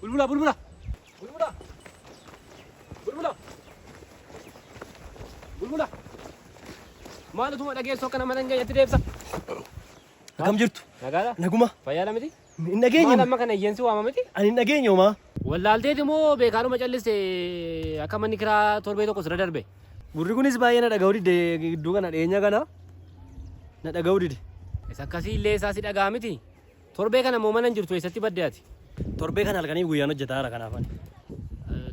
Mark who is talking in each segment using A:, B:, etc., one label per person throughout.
A: Bulbula bulbula. Bulbula. Bulbula. Bulbula. Maal utuma dhageessoo kana mana hin geenyetti deebisa? Akkam
B: jirtu? Nagaadha? Naguma.
A: Fayyaadha miti? Hin dhageenye. Maal amma
B: kana iyyansi
A: waama
B: miti?
A: Ani hin dhageenye homaa.
B: Wallaalteeti moo
A: beekaanuma calliste akka manni kiraa torbee tokko sirra darbe? Gurri kunis baay'ee
B: na dhaga'uu dide gidduu kana dhiyeenya kana na dhaga'uu dide. Isa akkasii illee
A: isaa si dhagaa miti. Torbee kana moo mana hin jirtu eessatti badde ati? Torbee kana halkaniif
B: guyyaan hojjetaa jira kanaaf ani.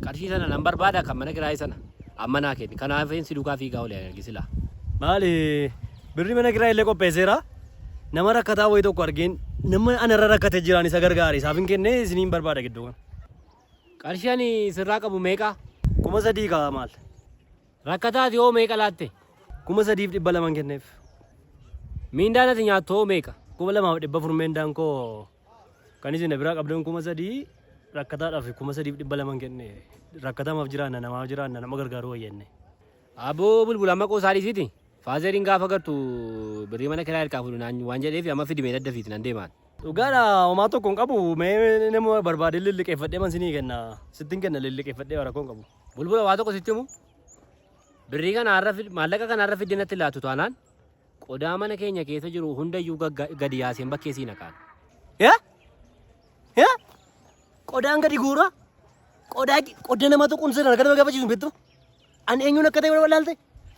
B: Qarshii
A: sana nan barbaada kan mana kiraayii sana. Amma naa kenni. Kanaafin si duukaa fiigaa oole ani arge silaa. Maali
B: birri mana kiraayii illee qopheesseera. Nama rakkataa wayii tokko argeen nama anarra rakkate jiraan isa gargaare isaaf hin kennee isiniin barbaada gidduu kana. Qarshii
A: ani sirraa qabu meeqa? Kuma sadii kaa
B: maal? Rakkataati
A: hoo meeqa laatte? Kuma sadiif dhibba
B: laman kenneef.
A: Miindaan ati nyaattu hoo meeqa? Kuma lamaaf dhibba furmeen
B: daankoo Kan isin biraa qabdan kuma sadii rakkataadhaaf kuma sadiif dhibba lama hin kenne. Rakkatamaaf jiraanna namaaf jiraanna nama gargaaruu wayya inni. Aboo
A: bulbula amma qoosaa dhiisiti. Faazeriin gaafa gartu birrii mana kiraa hirkaa fuudhu naan waan jedheef amma fidimee dadda fiiti nan deemaan. Dhugaadha homaa
B: tokko hin qabu mee nama barbaadee lilliqeeffadhee man sinii kenna sittin kenna lilliqeeffadhee waa rakkoo hin qabu. Bulbula waa tokko sitti himu.
A: Birrii kana har'a fid maallaqa kana har'a fidde natti laatu taanaan Qodaa mana keenya keessa jiru hundayyuu gagga- gadi yaaseen bakkee sii naqaan. Ya? Ya?
B: Qodaan gadi guura. Qodaa qodda nama tuquun seeraan akka nama gaafachiisu hin beektu. Ani eenyuun akka ta'e wal laalte.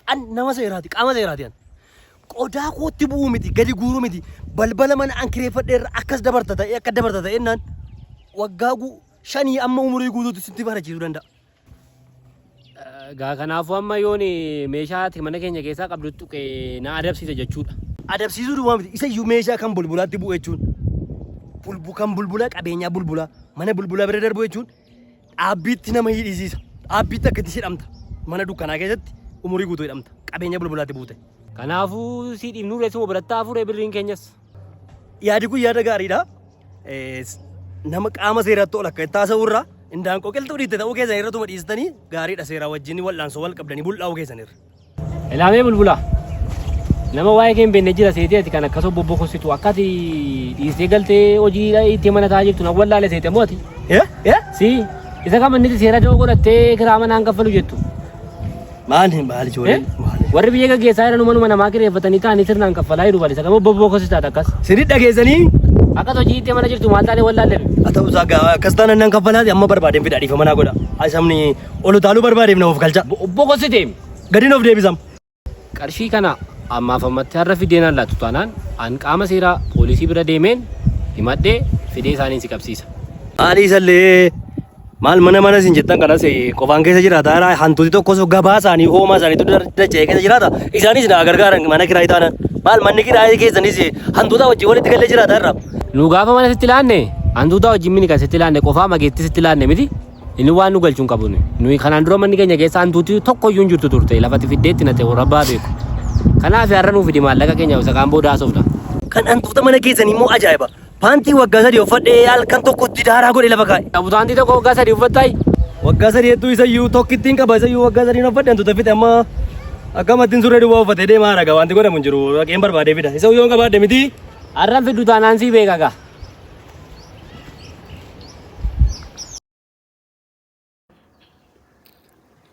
B: An nama seeraati qaama seeraati an. Qodaa kootti bu'uu miti gadi guuru miti. Balbala mana an kireeffadhe irra akkas dabarta ta'e akka dabarta ta'e naan waggaa gu- shanii amma umurii guutuutti sitti barachiisuu danda'a. Egaa
A: kanaafuu amma yoon meeshaa ati mana keenya keessaa qabdu tuqe na adabsiisa jechuudha. Adabsiisuu duwwaa miti.
B: Isa iyyuu meeshaa kan bulbulaatti bu'u jechuun bulbu kan bulbulaa qabeenyaa bulbulaa mana bulbulaa bira darbu jechuun dhaabbiitti nama hidhisiisa. Dhaabbiitti akkatti hidhamta. Mana dukkanaa keessatti umurii guutuu hidhamta. Qabeenya bulbulaatti buute. Kanaafuu si
A: dhiibnuu reessuma biratti hafuure birriin keenyas. Yaadi
B: kun yaada gaariidha. Nama qaama seeratti ol akka itti haasa'urra indaan qoqiltuu dhiitte ta'uu keessan irra tuma dhiistanii gaariidha seeraa wajjin wal'aansoo wal qabdanii bul'aa'uu keessan irra. Ilaamee
A: bulbulaa. Nama waa'ee kee hin beekne jira seetee ati kan akkasoo bobbokossitu akka ati dhiistee galtee hojii itti mana taa'aa jirtu nan wallaale seete moo ati? Si isa kam inni seera da'oo godhattee kiraa manaan kaffalu jettu? Maal
B: hin baali ijoolleen maal hin- Warri biyya
A: gaggeessaa jiran manuma namaa kireeffatanii taa'anii sirnaan kaffalaa jiru balisa qabu bobboo kosis taate akkas. Sirrii dhageessanii
B: Akkas hojii itti
A: mana jirtu maal taanee wallaallebi. haa ta'u isaa gaa
B: akkas taana nan kaffalaati amma barbaadeen fidhaa dhiifama naa godha. Asamni ol utaaluu barbaadeef na of galcha. Bobboo kosite
A: Gadiin of deebisam.
B: qarshii kana
A: ammaaf ammatti har'a fideen allaattu taanaan an qaama seeraa poolisii bira deemeen himadhee fidee isaaniin si qabsiisa. Maalii isallee
B: Maal mana mana isin jettan kanas eh, qofaan keessa jiraata jira hantuuti tokkos gabaa isaanii hoomaa isaaniitu dar- dacha'ee keessa jiraata isaanis na gargaaran mana kiraayii taanaan maal manni kiraayii keessanis eh, hantuuta wajjin walitti galee jiraata irra. Nu gaafa mana sitti
A: laanne hantuuta wajjin mini kan sitti laanne qofaa mageetti sitti laanne miti inni waan nu galchuun qabu nuyi. nuyi kanaan dura manni keenya keessa hantuuti tokko iyyuu hin jirtu turte lafatti fiddeetti nate warabbaa beeku. Kanaaf har'a nuuf fidi maallaqa keenya isa kaan booda haasofna. Kan hantuuta mana
B: keessanii immoo ajaa'iba. Paantii waggaa sadii uffadhee halkan tokkotti daaraa godhe lafa kaa'e. Abutaantii tokko waggaa sadii
A: uffattaay? Waggaa sadii hedduu
B: isayyuu tokkittiin qaba isayyuu waggaa sadii uffadhe hantuuta fixe amma akkamattiin surree duwwaa uffatee deemaa haraga wanti godhamu hin jiru dhaqeen barbaadee fida isa yoo qabaadhe miti. Arran fiddu
A: taanaan sii beeka gaa.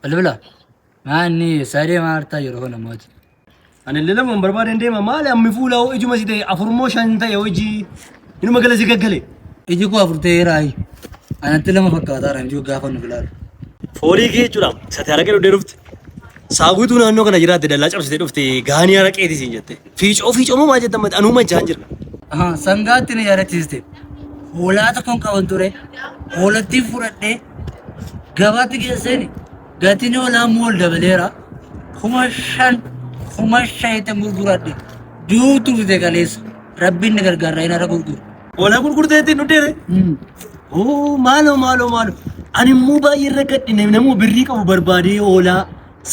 C: Bilbila. Maanni sadee maartaa yeroo kana mootii. Ani illee
B: lamaan barbaadeen deema maali ammi fuula hoo ijuma si ta'e afurmoo shan ta'e hojii inuma gala si gaggale. Iji koo afur ta'ee
C: raayi. Anatti lama fakkaataa ranjii gaafa nu bilaalu. Foolii kee
B: jechuudha sati haraqee dhufte dhufte saaguutuu naannoo kana jiraatte dallaa cabsitee dhufte gaanii haraqeeti siin jette. Fiicoo fiicoo moo maal jettan mati anuu machaan jira. Aha, sangaatti
C: na yaadachiiste. Hoolaa tokkon qaban ture. Hoolattiin fudhadhee gabaatti geesseen gatiin hoolaa immoo ol dabaleera. Kuma shan kuma shanitti gurguradhe. Duutu bite kaleessa. Rabbiin na gargaara inni irra gurguru. Hoolaa gurgurtee
B: ittiin dhudheere. Oo maaloo maaloo maaloo. Ani immoo baay'ee irra gadhine namuu birrii qabu barbaadee hoolaa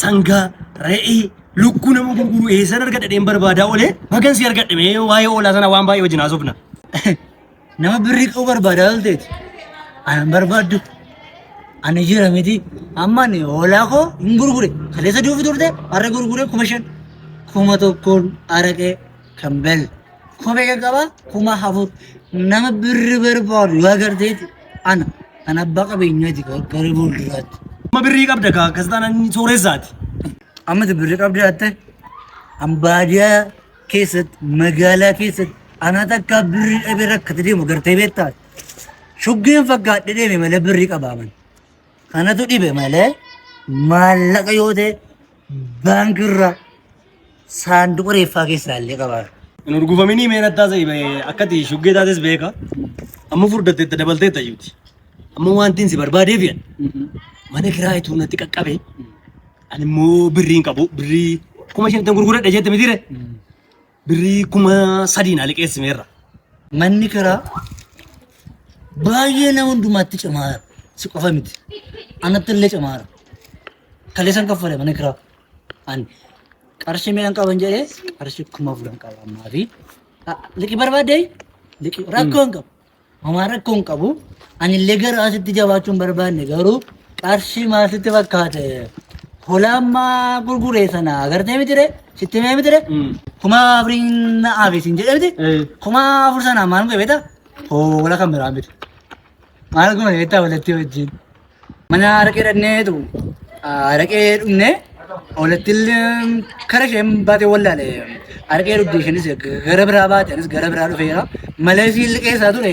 B: sangaa re'ee Lukkuu nama gurguru eessan argadha dheen barbaadaa olee bagan si argadhe mee waa'ee oolaa sana waan baay'ee wajjin haasofna. Nama
C: birrii qabu barbaadaa olteeti. Anan barbaaddu. Ani jira miti. Amma ani hoolaa koo hin gurgure. Kaleessa duufi turte har'a gurgure kuma shan. Kuma tokkoon araqee kan bel. Kophee kan qabaa kuma afur. Nama birri barbaadu yoo agarteeti ana. Ana abbaa qabeenyaati gara fuulduraatti. Amma birrii qabda
B: kaa akkas taanaan sooreessaati. Amma
C: birri qabdi jaatte ambaadiyaa keessatti magaalaa keessatti anaa takkaa birri dhabe rakkate deemu gartee beektaa shuggeen fakkaadhe deeme malee birri qabaaman kanatu dhibe malee maallaqa yoo ta'e baankiirra saanduqa reeffaa keessaa illee qabaa. Hin urgufaminii
B: meen attaa sa'i akkati shuggee taates beeka amma furdatteetta dabalteetta jiruti. Amma wanti inni si barbaadeef jedha. Mana kiraa ituu natti qaqqabe. Ani immoo birrii hin qabu. Birrii kuma shantan gurguradha jette mitiire. Birrii kuma sadii naa liqeessimeerra. Manni
C: kiraa baay'ee nama hundumaatti cimaara. Si qofa miti. Anatti illee cimaara. Kaleessan kaffale mana kiraa. Ani qarshii meeqan qaban jedhee qarshii kuma afur hin qaba ammaa fi liqii barbaaddee liqii rakkoo hin qabu. Homaa rakkoo hin qabu. Ani illee gara asitti jabaachuu hin barbaanne garuu qarshii maal sitti fakkaate holaammaa gurguree sana agartee mitire sitti himee mitire kuma afuriin na aafe siin jedhe miti kuma afur sanaa maal godhe beektaa hoola kan biraa miti maal goone beektaa walatti wajjin. Mana araqee dhaqneetu araqee dhumne olattiin kara isheen baatee wallaale araqee dhugde isheenis gara biraa baate anis gara biraa dhufeera malee isiin liqeessaa ture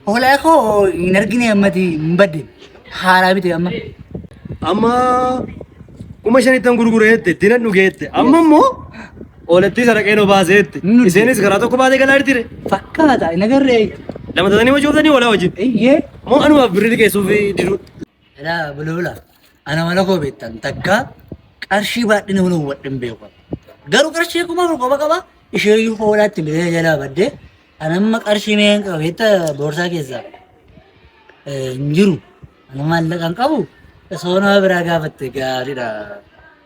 C: hoolaa koo hin argine ammati hin badde haaraa bite amma. Amma
B: kuma shanittan gurgureette dinan dhugeette amma immoo Oolattii saraqeen obaaseetti. Iseenis karaa tokko baatee galaa jirtire. Fakkaata hin
C: agarree. Lama tatanii
B: wajooftanii oolaa wajjin. Eeyyee. Moo anumaaf
C: birrii
B: liqeessuuf diduu. Dhaa
C: bulbula ana mana koo beektan takka qarshii baadhina mana hubadhin beeku. Garuu qarshii kuma afur qofa qaba isheeyyuu hoolaatti bilee jalaa badde ana amma qarshii meeqan qaba beekta boorsaa keessaa hin jiru. Ana maallaqan qabu soonaa biraa gaafatte gaariidha.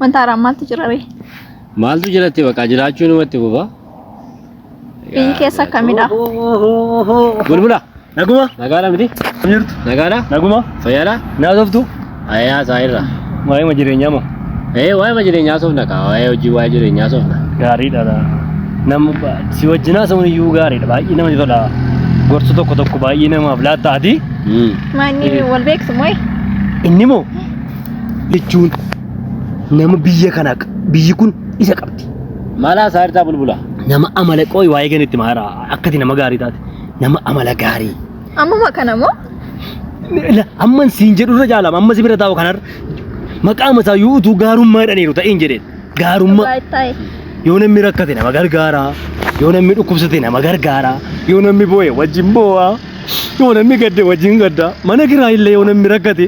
D: Wanta haaraa maaltu jira ree? Maaltu jiratti
A: bakka jiraachuu namatti fufa.
D: Biyyi keessa akkamidha?
A: Bulbula. Naguma.
B: Nagaadha miti.
A: Jirtu. Nagaadha.
B: Naguma.
A: Fayyaadha.
B: Naasoftu. Ayyaa isaa
A: irra. Waa'ima jireenyaa
B: moo. Ee waa'ima jireenyaa
A: soofna kaa waa'ee hojii waa'ee jireenyaa soofna. Gaariidha laa.
B: Nam si wajjinaa samuun iyyuu gaariidha baay'ee namatti tola. Gorsu tokko tokko baay'ee namaaf laattaati. Manni
D: wal beeksu mooyi. Inni moo
B: jechuun nama biyya kana biyyi kun isa qabdi. Maalaa isaa irraa
A: bulbula. Nama amala qooyi
B: waa'ee ganitti maara akkati nama gaarii taate nama amala gaarii. Ammuma kana moo?
D: La-
B: Amman siin jedhu irra jaalama amma si bira taa'u kanarra maqaa masaa yoo utuu gaarummaa jedhaniiru ta'een jedheen. gaarummaa Baay'ee. yoo namni rakkate nama gargaara yoo namni dhukkubsate nama gargaara yoo namni boo'e wajjin boo'a yoo namni gadde wajjin gadda mana kiraa illee yoo namni rakkate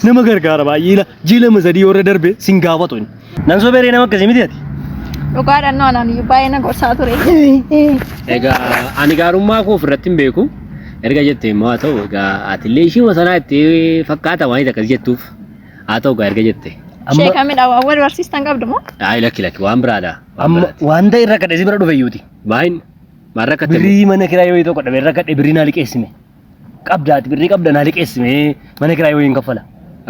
B: nama gargaara baay'ee ila jiilama sadii yoo irra darbe sin gaafatu inni. Nan soberee nama akkasii miti ati. Dhugaadhaan nu
D: anaan iyyuu baay'ee na gorsaa ture. Egaa
A: ani gaarummaa koo ofirratti hin beeku. Erga jettee immoo haa ta'u egaa atillee ishii masanaa itti fakkaata waan itti akkas jettuuf. haa ta'u gaa erga jette amma Sheeka midhaa waan wal
D: barsiistan qabdu moo? ayi lakki lakki waan biraadha
A: waan amma biraati waan ta'e irra
B: kadhe si bira dhufe iyyuuti maayin
A: maal rakkatte birrii mana kiraa yoo tokko
B: dhabe irra kadhe birrii naa liqeessime qabdaati birrii qabda naa liqeessime mana kiraa yoo hin kaffala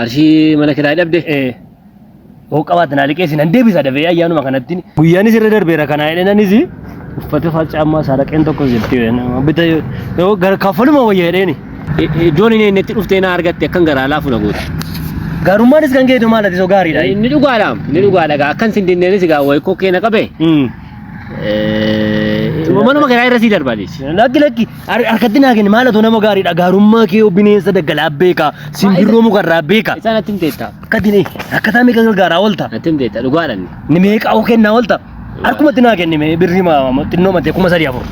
B: arshii mana
A: kiraa dhabde ee
B: yoo qabaate naa liqeessine hin deebisa dafee ayyaanuma kanatti guyyaanis irra darbeera kana jedheenanis uffata faccaa ammaa saaraqeen tokko jirti bita yoo gara kaffaluma wayya jedheeni Iddoon hin
A: eennetti dhuftee na argatte akkan garaa laafu na goote. Garummaanis kan
B: keetu maal ati soo gaariidha. Inni dhugaadhaam, inni
A: dhugaadha gaa akkan sin dinneenis gaa wayi koo keena qabe. Hmm. Manuma keeraa irra sii darbaanis. Lakki lakki har-
B: harkatti naa kenni maal atu nama gaariidha garummaa kee yoo bineensa daggalaa beeka simbirroo mukarraa beeka Isaan atti hin teettaa.
A: akkatti ni akkataa
B: meeqa gargaaraa oolta Atti hin teettaa dhugaadhaan.
A: ni meeqa oo kennaa
B: oolta Harkumatti naa kenni mee birrii ma ma- xinnoo matee kuma sadii afur.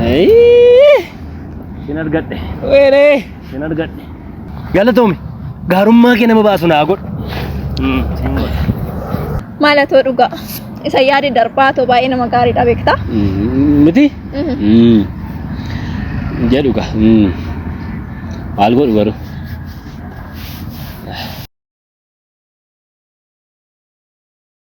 B: Ayii. Sin argadhe. Weeree.
A: Sin argadhe.
B: Galatoomi. Gaarummaa kee nama baasu naa godhu. Mm, sin godha.
D: Maal atoo dhugaa? Isa yaadi darbaa atoo baay'ee nama gaariidha beektaa? Mm, Miti?
A: Mhm. Mm. Jedhu ka. Mm. Maal godhu garuu?